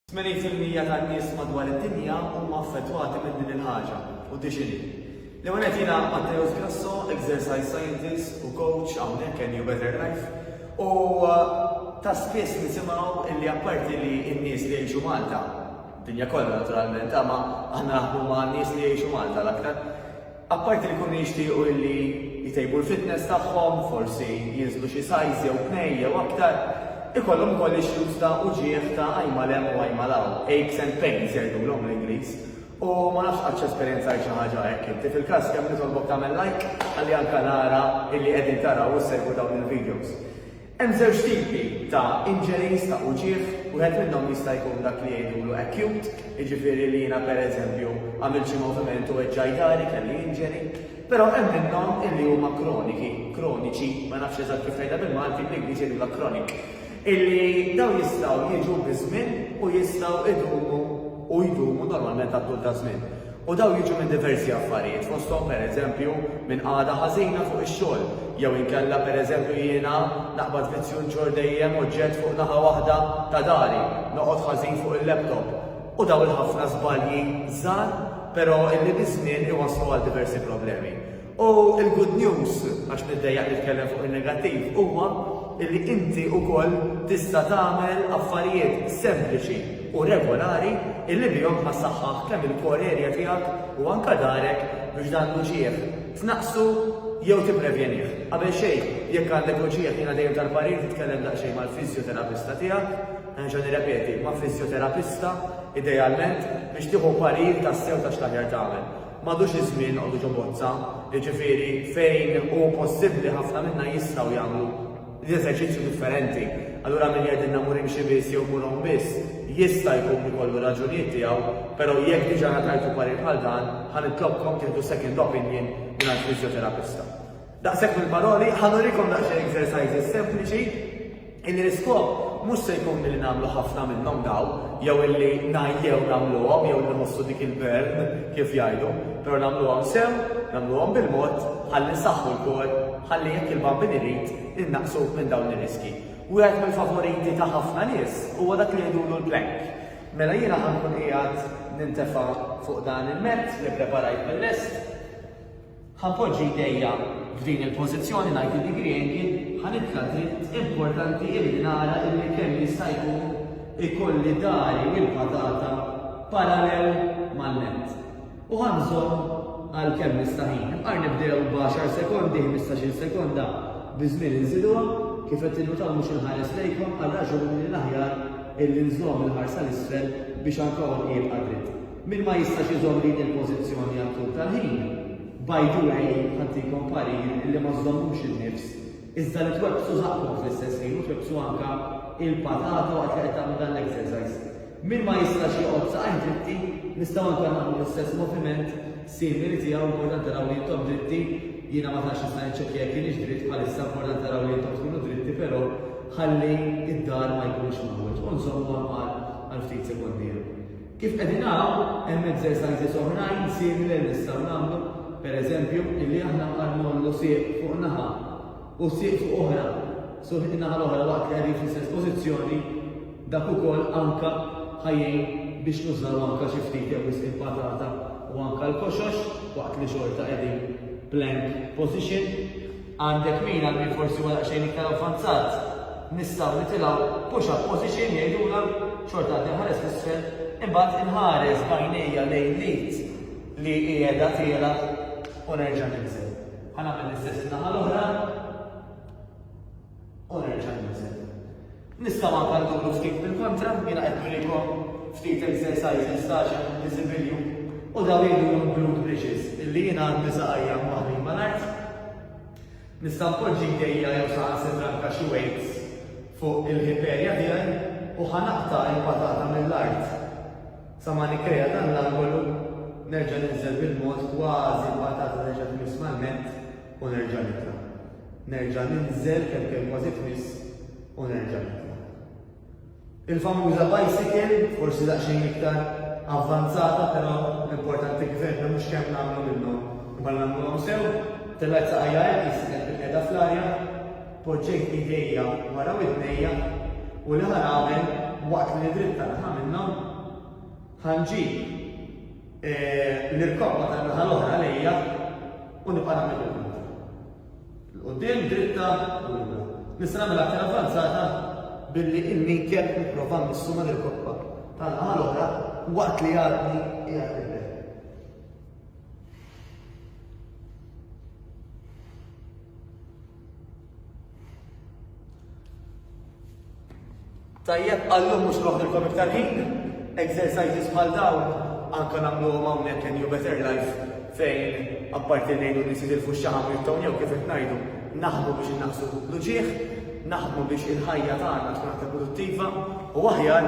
Tmenin fil-mija tan-nies madwar id-dinja huma affettwati minn din il-ħaġa, u di x'inhi. L-ewwel nett jiena Matteus Grasso, exercise scientist u coach hawnhekk Ennio Better Life, u ta' spiss nisimgħu illi apparti li n-nies li jgħixu Malta, dinja kollha naturalment, imma aħna naħdmu ma' nies li jgħixu Malta l-aktar, Apparti li jkunu jixtiequ illi jtejbu l-fitness tagħhom, forsi jinżlu xi size jew tnejn jew aktar, ikollhom ukoll issues ta' uġigħ ta' għajn mal hemm u għajn mal hawn, aches and pains jgħidulhom bl-Ingliż. U ma nafx qattx esperjenzajt xi ħaġa hekk inti. Fil-każ kemm nitolbok tagħmel like ħalli anke nara illi qegħdin taraw u ssegwu dawn il-videos. Hemm żewġ tipi ta' injuries ta' uġigħ, wieħed minnhom jista' jkun dak li jgħidulu acute, jiġifieri li jiena pereżempju għamilt xi moviment u weġġgħi dari, kelli injury. Però hemm minnhom illi huma kroniki, kroniċi, ma nafx eżatt kif tgħidha bil-Malti, bl-Ingliż jgħidulha chronic, illi dawn jistgħu jiġu biż-żmien u jistgħu jdumu u jdumu normalment għat-tul taż-żmien. U dawn jiġu minn diversi affarijiet, fosthom pereżempju minn qagħda ħażina fuq ix-xogħol, jew inkella pereżempju jiena naqbad vizzju nġorr dejjem oġġett fuq naħa waħda ta' dari, noqgħod ħażin fuq il-laptop. U dawn il-ħafna żbalji żgħar, però illi biż-żmien iwasslu għal diversi problemi. U l-good news, għax niddejjaq nitkellem fuq in-negattiv, huwa li inti wkoll tista' tagħmel affarijiet sempliċi u regolari illi bihom ħa ssaħħaħ kemm il-core area tiegħek u anke darek biex dan l-uġigħ tnaqqsu jew tipprevjenih. Qabel xejn, jekk għandek uġigħ jiena dejjem tal-parir titkellem daqsxejn mal-fiżjoterapista tiegħek, nerġa' nirrepeti, ma' fiżjoterapista idealment biex tieħu parir tassew ta' x'l-aħjar tagħmel. M'għadux iż-żmien noqogħdu ġo bozza, jiġifieri fejn hu possibbli ħafna minna jistgħu jagħmlu l-eżerċizzju differenti. Allura min jgħidilna mmur imxi biss jew mmur għom biss, jista' jkun ikollu r-raġunijiet tiegħu, però jekk diġà ngħatajtu parir bħal dan, ħa nitlobkom tieħdu second opinion mingħand fiżjoterapista. Daqshekk mill-paroli, ħa nurikom daqsxejn exercises sempliċi illi l-iskop mhux se jkun li nagħmlu ħafna minnhom daw, jew illi ngħajjew nagħmluhom jew li nħossu dik il-burn kif jgħidu, però nagħmluhom sew, nagħmluhom bil-mod, ħalli nsaħħu l-kor, ħalli jekk il-bambin irid innaqsu minn dawn ir-riski. Wieħed mill-favoriti ta' ħafna nies huwa dak li jgħidulu l-plank. Mela jiena ħankun qiegħed nintefa' fuq dan il-mezz li preparajt mill-lest, Ħa poġġi jdejja f'din il-pożizzjoni ngħid li dik riegi ħa nitla' dritt importanti illi nara illi kemm jista' jkun ikolli dari u l-patata parallel mal-nett. U ħa nżomm għal kemm nista' ħin. Imqar nibdew b'għaxar sekondi, ħmistax-il sekonda, biż-żmien inżiduha, kif qed tinnutaw mhux inħares lejkom għal raġuni li l-aħjar illi nżomm il-ħarsa 'l isfel biex anka għonqi jibqa' dritt. Min ma jistax iżomm din il-pożizzjoni għal tul tal-ħin, by the way, ħantikom parir illi ma żżommux in-nifs, iżda li twebbsu żaqqkom fl-istess ħin u twebbsu anke l-patata waqt li qed tagħmlu dan l-exercise. Min ma jistax joqgħod saqajh dritti, nistgħu anke nagħmlu l-istess moviment simili tiegħu, importanti naraw li intom dritti, jiena ma tantx nista' niċċekkja jekk kienx dritt bħalissa, importanti naraw li intom tkunu dritti però ħalli d-dar ma jkunx mgħawweġ u nżommu għal ftit sekondi. Kif qegħdin naraw, hemm exercises oħrajn simili li nistgħu nagħmlu, per eżempju, illi aħna bħal ngħollu sieq fuq naħa u sieq fuq oħra, so in-naħa l-oħra waqt li qegħdin fl-istess pożizzjoni, dak ukoll anke ħa jgħin biex nużaw anke xi ftit jew wisq il-patata u anke l-koxox waqt li xorta qegħdin plank position. Għandek min għal min forsi huwa daqsxejn iktar avvanzat, nistgħu nitilgħu push up position jgħidulha, xorta għad inħares 'l isfel, imbagħad inħares b'għajnejja lejn l-id li qiegħda tiela' u nerġa' ninżel. Ħa nagħmel l-istess in-naħa l-oħra u nerġa' ninżel. Nistgħu anke nduru ftit bil-kontra, jiena qed nurikom ftit exercises ta' għax hemm diżibilju u dawn jgħidulhom glute bridges illi jiena għandi saqajja mwaħħlin mal-art. Nista' npoġġi jdejja jew saħansitra anke xi weights fuq il-hip area tiegħi u ħa naqta' il-patata mill-art sa ma nikkrea dan l-angolu, nerġa' ninżel bil-mod kważi l-patata terġa' tmiss mal-mat, u nerġa' nitla'. Nerġa' ninżel kemm kemm kważi tmiss u nerġa' nitla'. Il-famuża bicycle, forsi daqsxejn iktar avvanzata però l-importanti kif għedna mhux kemm nagħmlu minnhom imma li nagħmluhom sew, tellgħet saqajja hekk li sibtha kif qiegħda fl-arja, poġġejt idejja wara widnejja u li ħa nagħmel waqt li nidritta li ħa minnhom? Ħa nġib. Nirkoppa tan-naħa l-oħra lejja u nibqa' nagħmel il-punta. L-quddiem dritta u lura. Nista' nagħmel aktar avvanzata billi il-minkel nipprova nmissu ma' nirkoppa tan-naħa l-oħra waqt li għadni qiegħed nibel. Tajjeb, għallum mhux noħdilkom iktar ħin, exercises bħal dawn anke nagħmluhom hawnhekk in New Better Life fejn apparti ngħidu li sidil fuq xaħam jibtawn jew kif qed ngħidu naħdmu biex innaqsu l-uġieħ, naħdmu biex il-ħajja tagħna tkun aktar produttiva u aħjar